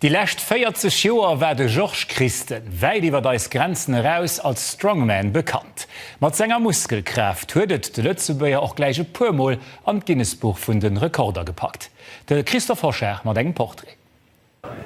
Déi lescht 40 Joer war de Georges Christen wäit iwwert eis Grenzen eraus als Strongman bekannt. Mat senger Muskelkraaft huet et de Lëtzebuerger och gläich e puer Mol an d'Guinness-Buch vun de Rekorder gepackt. De Christophe Hochard mat engem Portrait.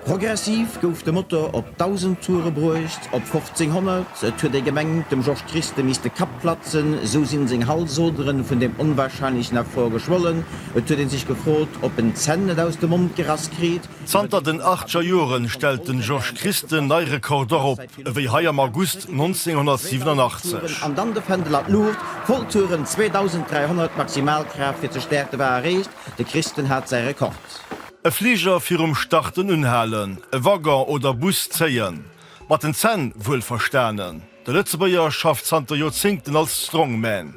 Progressiv gouf de Motor op 1.000 Toure bruecht, op 1.500, et huet ee gemengt, dem Georges Christen misst de Kapp platzen, esou sinn seng Halsoderen vun deem onwahrscheinlechen Effort geschwollen, Et huet ee sech gefrot, ob en d'Zänn net aus dem Mond gerass kritt. Zanter den achtger Joren stellt den Georges Christen nei Rekorder op, ewéi hei am August 1987. An dann de Fändel an d'Luucht, Volltouren, 2300 Maximalkraaft fir ze stäerten, war erreecht, de Christen hat säi Rekord. E Fliger virum Starten unhalen, e Waggon oder Bus zéien, mat den Zänn wuelverstanen. De Lëtzebuerger schafft zanter Joerzéngten als Strongman.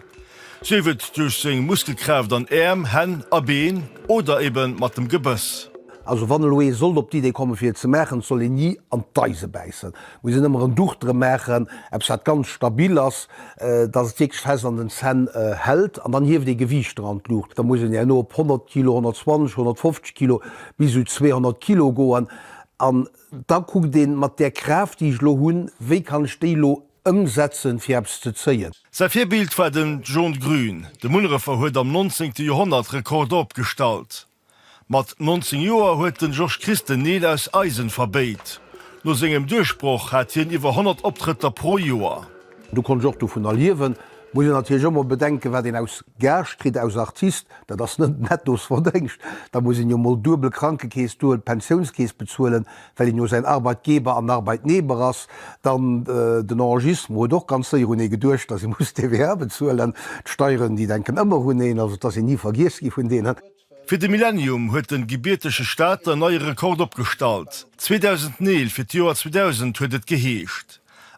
Sief et duerch seng Muskelkraaft an Äerm, Hänn a Been oder ebe mat dem Gebëss. Also wann elo ee sollt op d'Idee komme fir et ze maachen, soll een ni an d'Eise bäissen. Muss een ëmmer en Duch drëm maachen, eppes wat ganz stabil ass, datt et wierklech fest an den Zänn hält. An dann hieft ee Gewiichter an d'Luucht. Da muss een herno op 100 Kilo, 120, 150 Kilo, bis u 200 Kilo goen. An da kuckt een, mat där Kraaft, déi ech elo hunn, wéi kann ech déi elo ëmsetzen, fir eppes ze zéien. Säi Virbild war den John Grün. De Munnerefer huet am 19. Joerhonnert Rekorde opgestallt. Mat 19 Joer huet den Georges Christ den Neel aus Eisen verbéit. No sengem Duerchbroch hat hien iwwer 100 Optrëtter pro Joer. Do konnt ech och dovunner liewen. Muss een natierlech ëmmer bedenken, wat een aus Gage kritt, aus Artist, dat ass net Nettosverdéngscht. Da muss een jo mol duebel Krankekeess, duebel Pensiounskeess bezuelen, well een jo säin Arbeitgeber an Arbeitnehmer ass. Dann den Enregistrement huet och ganz séier un ee geduecht, dass ee muss TVA bezuelen. D'Steieren, déi denken ëmmer un een, also et ass een ni vergiess gi vun deenen. Fir de Millenium huet den gebiertege Staat en neie Rekord opgestallt, 2009 fir d'Joer 2000 huet et geheescht,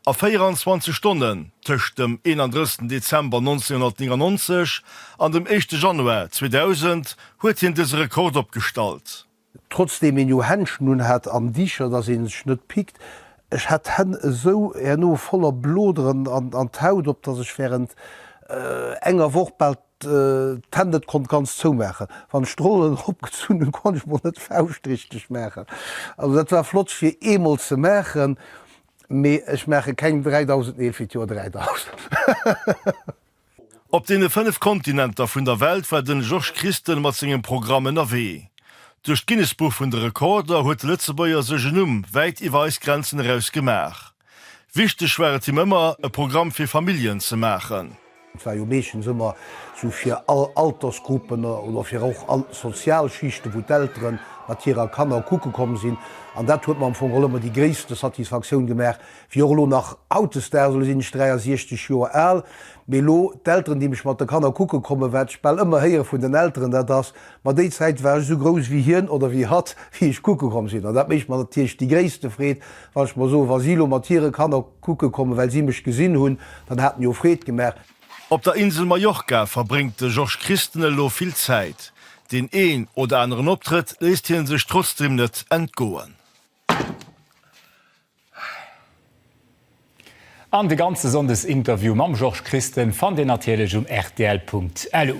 a 24 Stonnen tëscht dem 31 Dezember 1999 an dem éischte Januar 2000 huet hien dëse Rekord opgestallt. Trotzdeem een jo Händschen un hat an Dicher dass een sech net pickt, ech hat d'Hänn esou herno voller Bloderen an d'Haut op dass ech während enger Woch bal D'Hänn net konnt ganz zou maachen. Wann ech d'Rollen erop gezunn hunn, konnt ech mol net d'Fauscht richteg maachen. Also dat war flott fir eemol ze maachen, mee ech maache keng 3000 Neel fir d'Joer 3000. Op deene fënnef Kontinenter vun der Welt war den Georges Christen mat sengem Programm ënnerwee. Duerch d'Guinness-Buch vun de Rekorder huet de Lëtzebuerger sech en Numm wäit iwwer eis Grenzen eraus gemaach. Wichteg war et him ëmmer, e Programm fir Familljen ze maachen. Et war jo meeschtens ëmmer sou fir all Altersgruppen oder fir och all Sozialschichte wou d'Eltere mat hirer Kanner kucke komm sinn. An dat huet mer am Fong och ëmmer déi gréisste Satisfaktioun gemaach, wéi och elo nach hautdesdaags. Elo sinn ech 63 Joer al, mee elo d'Elteren, déi mech mat de Kanner kucke kommen, wat ech bal ëmmer héiere vun den Elteren, dat ass, Ma déi Zäit war ech esou grouss wéi hien oder wéi hatt, wéi ech kucke komm sinn. An dat mécht mer natierlech déi gréisste Freed, Wann ech mer soen, wa si elo mat hire Kanner kucke kommen, well si mech gesinn hunn, dann hat mir jo Freed gemaach. Op der Insel Mallorca verbréngt de Georges Christen elo vill Zäit. Deen een oder aneren Optrëtt léisst hie sech trotzdeem net entgoen. An de ganze Sonndesinterview mam Georges Christen fannt Dir natierlech um rtl.lu.